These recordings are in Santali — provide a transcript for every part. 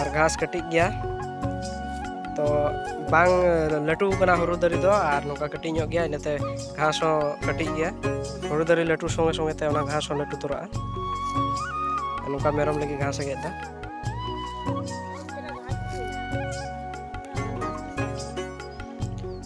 ᱟᱨ ᱜᱷᱟᱥ ᱠᱟᱹᱴᱤᱡ ᱜᱮᱭᱟ ᱛᱚ ᱵᱟᱝ ᱞᱟᱹᱴᱩ ᱠᱟᱱᱟ ᱦᱩᱲᱩ ᱫᱟᱨᱮ ᱫᱚ ᱟᱨ ᱱᱚᱝᱠᱟ ᱠᱟᱹᱴᱤᱡ ᱧᱚᱜ ᱜᱮᱭᱟ ᱤᱱᱟᱹᱛᱮ ᱜᱷᱟᱥ ᱦᱚᱸ ᱠᱟᱹᱴᱤᱡ ᱜᱮᱭᱟ ᱦᱩᱲᱩ ᱫᱟᱨᱮ ᱞᱟᱹᱴᱩ ᱥᱚᱸᱜᱮ ᱥᱚᱸᱜᱮ ᱛᱮ ᱚᱱᱟ ᱜᱷᱟᱥ ᱦᱚᱸ ᱞᱟᱹᱴᱩ ᱛᱚᱨᱟᱜᱼᱟ ᱱᱚᱝᱠᱟ ᱢᱮᱨᱚᱢ ᱞᱟᱹᱜᱤᱫ ᱜᱷᱟᱥ ᱮ ᱜᱮᱫ ᱮᱫᱟ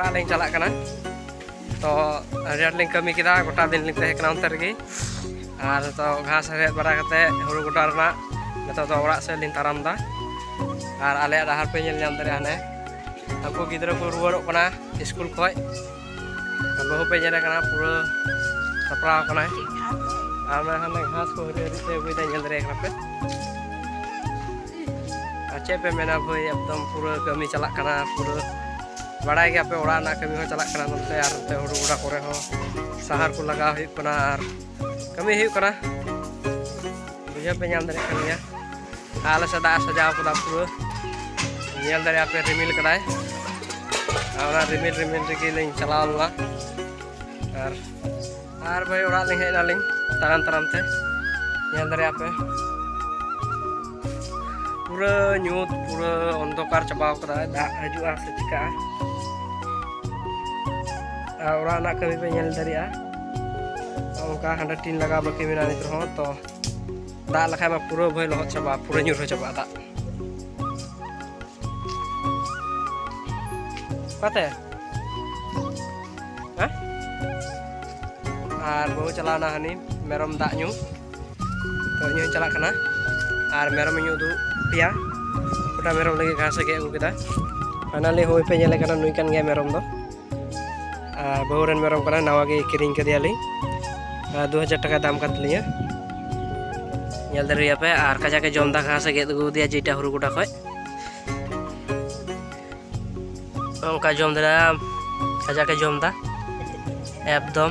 ᱚᱲᱟᱜ ᱞᱤᱧ ᱪᱟᱞᱟᱜ ᱠᱟᱱᱟ ᱛᱚ ᱟᱹᱰᱤ ᱟᱸᱴ ᱞᱤᱧ ᱠᱟᱹᱢᱤ ᱠᱮᱫᱟ ᱜᱚᱴᱟ ᱫᱤᱱ ᱞᱤᱧ ᱛᱟᱦᱮᱸ ᱠᱟᱱᱟ ᱚᱱᱛᱮ ᱨᱮᱜᱮ ᱟᱨ ᱛᱚ ᱜᱷᱟᱥ ᱦᱮᱲᱦᱮᱫ ᱵᱟᱲᱟ ᱠᱟᱛᱮ ᱦᱩᱲᱩ ᱜᱚᱰᱟ ᱨᱮᱱᱟᱜ ᱱᱤᱛᱚᱜ ᱫᱚ ᱚᱲᱟᱜ ᱥᱮᱫ ᱞᱤᱧ ᱛᱟᱲᱟᱢ ᱮᱫᱟ ᱟᱨ ᱟᱞᱮᱭᱟᱜ ᱰᱟᱦᱟᱨ ᱯᱮ ᱧᱮᱞ ᱧᱟᱢ ᱫᱟᱲᱮᱭᱟᱜᱼᱟ ᱦᱟᱱᱮ ᱩᱱᱠᱩ ᱜᱤᱫᱽᱨᱟᱹ ᱠᱚ ᱨᱩᱣᱟᱹᱲᱚᱜ ᱠᱟᱱᱟ ᱥᱠᱩᱞ ᱠᱷᱚᱡ ᱵᱟᱹᱦᱩ ᱯᱮ ᱧᱮᱞ ᱠᱟᱱᱟ ᱯᱩᱨᱟᱹ ᱥᱟᱯᱲᱟᱣ ᱠᱟᱱᱟᱭ ᱟᱨ ᱚᱱᱟ ᱦᱟᱱᱮ ᱜᱷᱟᱥ ᱠᱚ ᱦᱟᱹᱨᱭᱟᱹᱲ ᱛᱮ ᱟᱹᱜᱩᱭᱮᱫᱟ ᱧᱮᱞ ᱫᱟᱲᱮᱭᱟᱜ ᱠᱟᱱᱟ ᱯᱮ ᱟᱨ ᱪᱮᱫ ᱯᱮ ᱢᱮᱱᱟ ᱵᱷᱟᱹᱭ ᱮᱠᱫᱚᱢ ᱯᱩᱨᱟᱹ ᱠᱟᱹᱢᱤ ᱪᱟᱞᱟᱜ ᱠᱟᱱᱟ ᱯᱩᱨᱟᱹ ᱵᱟᱲᱟᱭ ᱜᱮᱭᱟ ᱯᱮ ᱚᱲᱟᱜ ᱨᱮᱱᱟᱜ ᱠᱟᱹᱢᱤ ᱦᱚᱸ ᱪᱟᱞᱟᱜ ᱠᱟᱱᱟ ᱱᱚᱛᱮ ᱟᱨ ᱱᱚᱛᱮ ᱦᱩᱲᱩ ᱜᱚᱰᱟ ᱠᱚᱨᱮ ᱦᱚᱸ ᱥᱟᱦᱟᱨ ᱠᱚ ᱞᱟᱜᱟᱣ ᱦᱩᱭᱩᱜ ᱠᱟᱱᱟ ᱟᱨ ᱠᱟᱹᱢᱤ ᱦᱩᱭᱩᱜ ᱠᱟᱱᱟ ᱵᱩᱡᱷᱟᱹᱣ ᱯᱮ ᱧᱟᱢ ᱫᱟᱲᱮᱭᱟᱜ ᱠᱟᱱ ᱜᱮᱭᱟ ᱟᱞᱮ ᱥᱮᱫ ᱫᱟᱜ ᱥᱟᱡᱟᱣ ᱠᱟᱫᱟ ᱯᱩᱨᱟᱹ ᱧᱮᱞ ᱫᱟᱲᱮᱭᱟᱜ ᱯᱮ ᱨᱤᱢᱤᱞ ᱠᱟᱫᱟᱭ ᱟᱨ ᱚᱱᱟ ᱨᱤᱢᱤᱞ ᱨᱤᱢᱤᱞ ᱨᱮᱜᱮ ᱞᱤᱧ ᱪᱟᱞᱟᱣ ᱞᱮᱱᱟ ᱟᱨ ᱟᱨ ᱵᱷᱟᱹᱭ ᱚᱲᱟᱜ ᱞᱤᱧ ᱦᱮᱡ ᱮᱱᱟᱞᱤᱧ ᱛᱟᱲᱟᱢ ᱛᱟᱲᱟᱢ ᱛᱮ ᱧᱮᱞ ᱫᱟᱲᱮᱭᱟᱜ ᱯᱮ ᱯᱩᱨᱟᱹ ᱧᱩᱛ ᱯᱩᱨᱟᱹ ᱚᱱᱫᱷᱚᱠᱟᱨ ᱪᱟᱵᱟᱣ ᱠᱟᱫᱟᱭ ᱫᱟᱜ ᱦᱤᱡᱩᱜᱼᱟ ᱥᱮ ᱪᱤᱠᱟᱹᱜᱼᱟ ᱟᱨ ᱚᱲᱟᱜ ᱨᱮᱱᱟᱜ ᱠᱟᱹᱢᱤ ᱯᱮ ᱧᱮᱞ ᱫᱟᱲᱮᱭᱟᱜᱼᱟ ᱚᱱᱠᱟ ᱦᱟᱸᱰᱮ ᱴᱤᱱ ᱞᱟᱜᱟᱣ ᱵᱟᱹᱠᱤ ᱢᱮᱱᱟᱜᱼᱟ ᱱᱤᱛ ᱨᱮᱦᱚᱸ ᱛᱚ ᱫᱟᱜ ᱞᱮᱠᱷᱟᱡ ᱢᱟ ᱯᱩᱨᱟᱹ ᱵᱷᱟᱹᱭ ᱞᱚᱦᱚᱫ ᱪᱟᱵᱟᱜᱼᱟ ᱯᱩᱨᱟᱹ ᱧᱩᱨᱦᱟᱹ ᱪᱟᱵᱟᱜᱼᱟ ᱫᱟᱜ ᱚᱠᱟᱛᱮ ᱟᱨ ᱵᱟᱹᱦᱩ ᱪᱟᱞᱟᱣᱱᱟ ᱦᱟᱹᱱᱤ ᱢᱮᱨᱚᱢ ᱫᱟᱜ ᱧᱩ ᱛᱚ ᱤᱧ ᱦᱚᱸ ᱪᱟᱞᱟᱜ ᱠᱟᱱᱟ ᱟᱨ ᱢᱮᱨᱚᱢ ᱤᱧ ᱩᱫᱩᱜ ᱯᱮᱭᱟ ᱜᱚᱴᱟ ᱢᱮᱨᱚᱢ ᱞᱟᱹᱜᱤᱫ ᱜᱷᱟᱥ ᱮ ᱜᱮᱫ ᱟᱹᱜᱩ ᱠᱮᱫᱟ ᱯᱷᱟᱭᱱᱟᱞᱤ ᱦᱳᱭ ᱯᱮ ᱧᱮᱞᱮ ᱠᱟᱱᱟ ᱱᱩᱭ ᱠᱟᱱ ᱜᱮᱭᱟ ᱢᱮᱨᱚᱢ ᱫᱚ ᱵᱟᱹᱦᱩ ᱨᱮᱱ ᱢᱮᱨᱚᱢ ᱠᱟᱱᱟ ᱱᱟᱣᱟ ᱜᱮ ᱠᱤᱨᱤᱧ ᱠᱟᱫᱮᱭᱟᱞᱤᱧ ᱫᱩ ᱦᱟᱡᱟᱨ ᱴᱟᱠᱟ ᱫᱟᱢ ᱠᱟᱱ ᱛᱟᱹᱞᱤᱧᱟ ᱧᱮᱞ ᱫᱟᱲᱮᱭᱟᱯᱮ ᱟᱨ ᱠᱟᱡᱟᱠᱮ ᱡᱚᱢ ᱫᱟ ᱜᱷᱟᱥᱮ ᱜᱮᱫ ᱟᱹᱜᱩ ᱟᱫᱮᱭᱟ ᱡᱮᱴᱟ ᱦᱩᱲᱩ ᱜᱚᱰᱟ ᱠᱷᱚᱡ ᱚᱱᱠᱟ ᱡᱚᱢ ᱫᱟᱲᱮᱭᱟᱜᱼᱟ ᱠᱟᱡᱟᱠᱮ ᱡᱚᱢ ᱫᱟ ᱮᱠᱫᱚᱢ